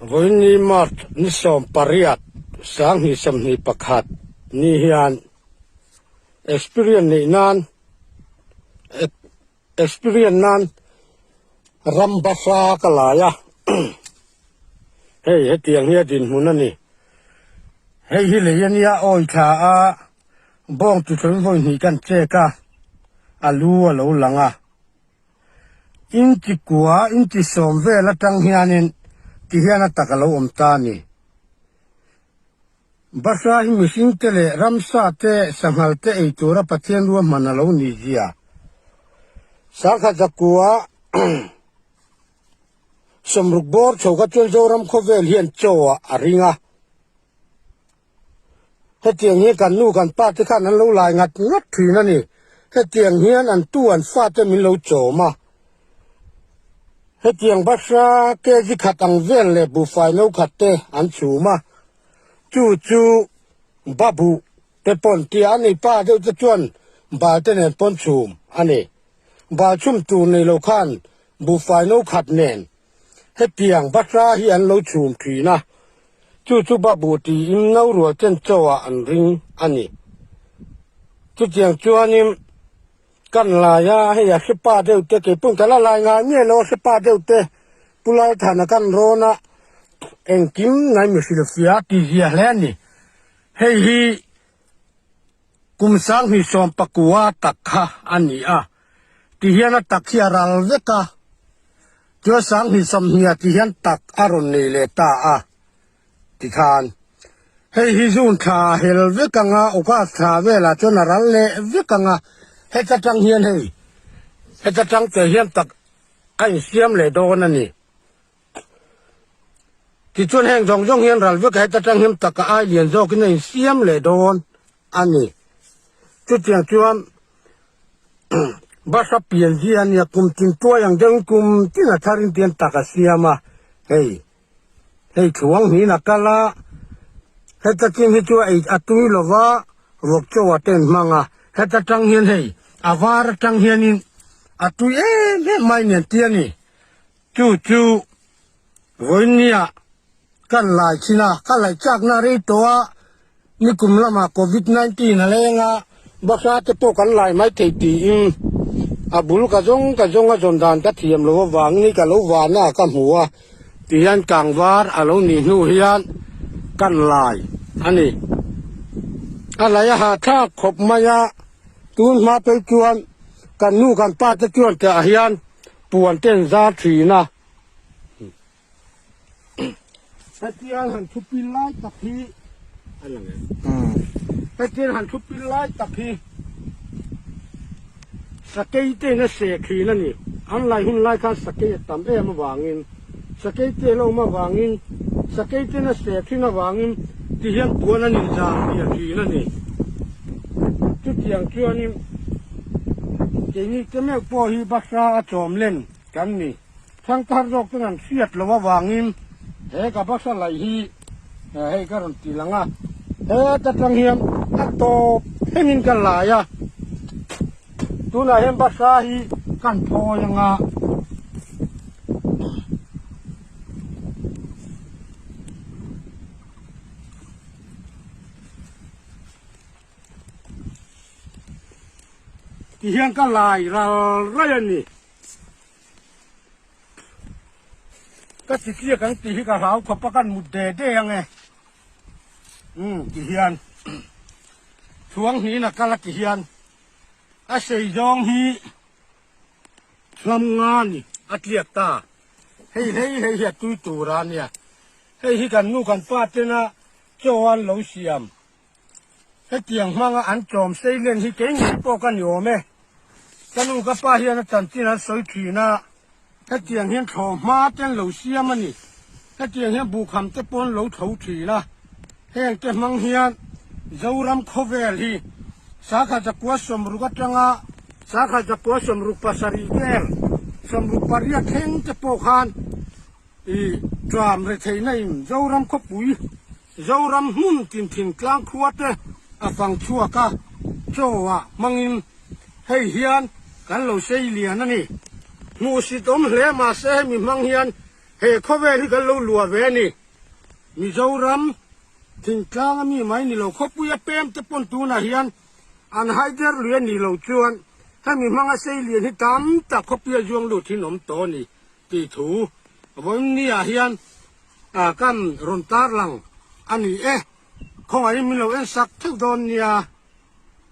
Vawiinni Mart ni sawm pariat sang hnih sawm hnih pakhat ni hian experience neih nan Experience nan ram basa ka lai a hei hetiang hi a dinhmun a ni hei hi lei a nia awi tha a bawng ti sawi vawi hnih kan check a a lu a lo lang a inchikua inchisawm vel atang hianin ti hian a tak a lo awm ta a ni. Basain mihring te leh ramsa te sanghal te ei tura Pathian ruahman a lo ni zia. Sangha zakua sawmruk bawr chho ka ṭuan Zoram khawvel hian chaw ah a ring a. Hetiang hian kan nu kan pa te khan an lo lai ngat ngat thin a ni. Hetiang hian an tu an fa te min lo chawm a. Hetiang Basra KZ khat ang vel leh buhfai no khat te an chum a, chu chu Babu te pawn tia an nei, pa deuh te chuan bal te nen pawn chum a ni. Bal chum tur nei lo khan buhfai no khat nen hetiang Basra hi an lo chum thin a, chu chu Babu tiin no rual chen chauhah an ring a ni. Chutiang chuanin Kan lai a, hei a hripa deuh te kei pawn kan la lai ngai nge lo a hripa deuh te Pu Laithana kan rawn a engkim ngai mi hrilh sia ti zia hle a ni. Hei hi kum sang hnih sawm pakua tak kha a ni a, ti hian a tak hi a ral vek a, Tualsang hnih sawm hnih a ti hian tak a rawn nei leh ta a. ti than. Hei hi June thla a hel vek ang a, August thla velah chuan a ral leh vek ang a. Heta tang hian hei, heta tang te hian tak a insiam leh dawn a ni. Tichuan heng zawng zawng hian ral vekah heta tang hian tak a ai lian zawkin a insiam leh dawn a ni. Chutiang chuan bus a pian zia ania, kum tin tuai ang deuhin kum tina tharin tian tak a siam a, hei. Hei thluang hnihin a kal a, heta chin hi chu a ei a tui lo va, ruak chauh a ten hmang a. Heta tang hian hei a var atang hianin a tui em em mai nen ti a ni. Chu chu vawinia kan laichin a, ka laih chakna rei tawh a, Nikum lama Covid nineteen a leng a, Basa te pawh kan lai mai thei tiin a bul ka zawng ka zawng a zawn dan ka thiam lo avangin hi ka lo vana a ka hmu a ti hian tlangvar a lo nih hnu hian kan lai a ni. A lai a hahthlak khawp mai a, tun hma phei chuan kan nu kan pa te chuan teh ah hian puan ten zar thin a. Petrol han thu pil lai tak hi a lang em. Hmm. Petrol han thu pil lai tak hi. Sakei te na se khi na ni. An lai hun lai khan sakei tam em awangin. Sakei te lo ma wangin. Sakei te na se khi na wangin. Ti hian puan an in zang hi a khi na ni. Chu tiang chuan in. Keini te meuh po hi basra a chawm len kan ni. Thangthar zawk ten an hriat loh avangin he ka basa laih hi hei ka rawn ti langa he ata tang hian a tawp hengin ka lai a. Tunah hian basa hi ka han phawi anga. Ti hian ka lai ral rai a ni. Ka ti chiak ang tih hi ka hlau khawp a kan mut de de ang e. Um ti hian thuang hnin a kal a ti hian a sei zawng hi hlam nga ni a tliak ta. Hei hei hei hi a tui tura nia. Hei hi kan nu kan pa tena chaw an lo siam. Hetiang hmanga an tlawm seilen hi kei ngei pawh ka ni awm e. Ka nu ka pa hian a chanchin an sawi thin a, hetiang hian thlawm hma te an lo siam a ni. Hetiang hian buhkham te pawh an lo tho thin a. Heng te hmang hian Zoram khawvel hi Sakha Zakua sawmruk atanga Sakha Zakua sawmruk pasarih vel, sawmruk pariat thleng te pawh khan, I Tram retheihna in Zoram khawpui, Zoram hmun tin thingtlang khua te a fang chhuak a, chaw ah hmang in hei hian kan lo sei lian a ni. Hmuh sit awm hle mahse hemi hmang hian he khawvel hi kan lo lua ve a ni. Mizoram thingtlang ami mai ni lo khawpui a pem te pawn tun ah hian an haider lui a nih lo chuan hemi hmang a sei lian hi tam tak khawpui a zuang lut hi an awm tawh a ni. tih thu vawiingnihah hian kan rawn tarlang a ni e, khawngahin min lo en sak theuh dawn nia.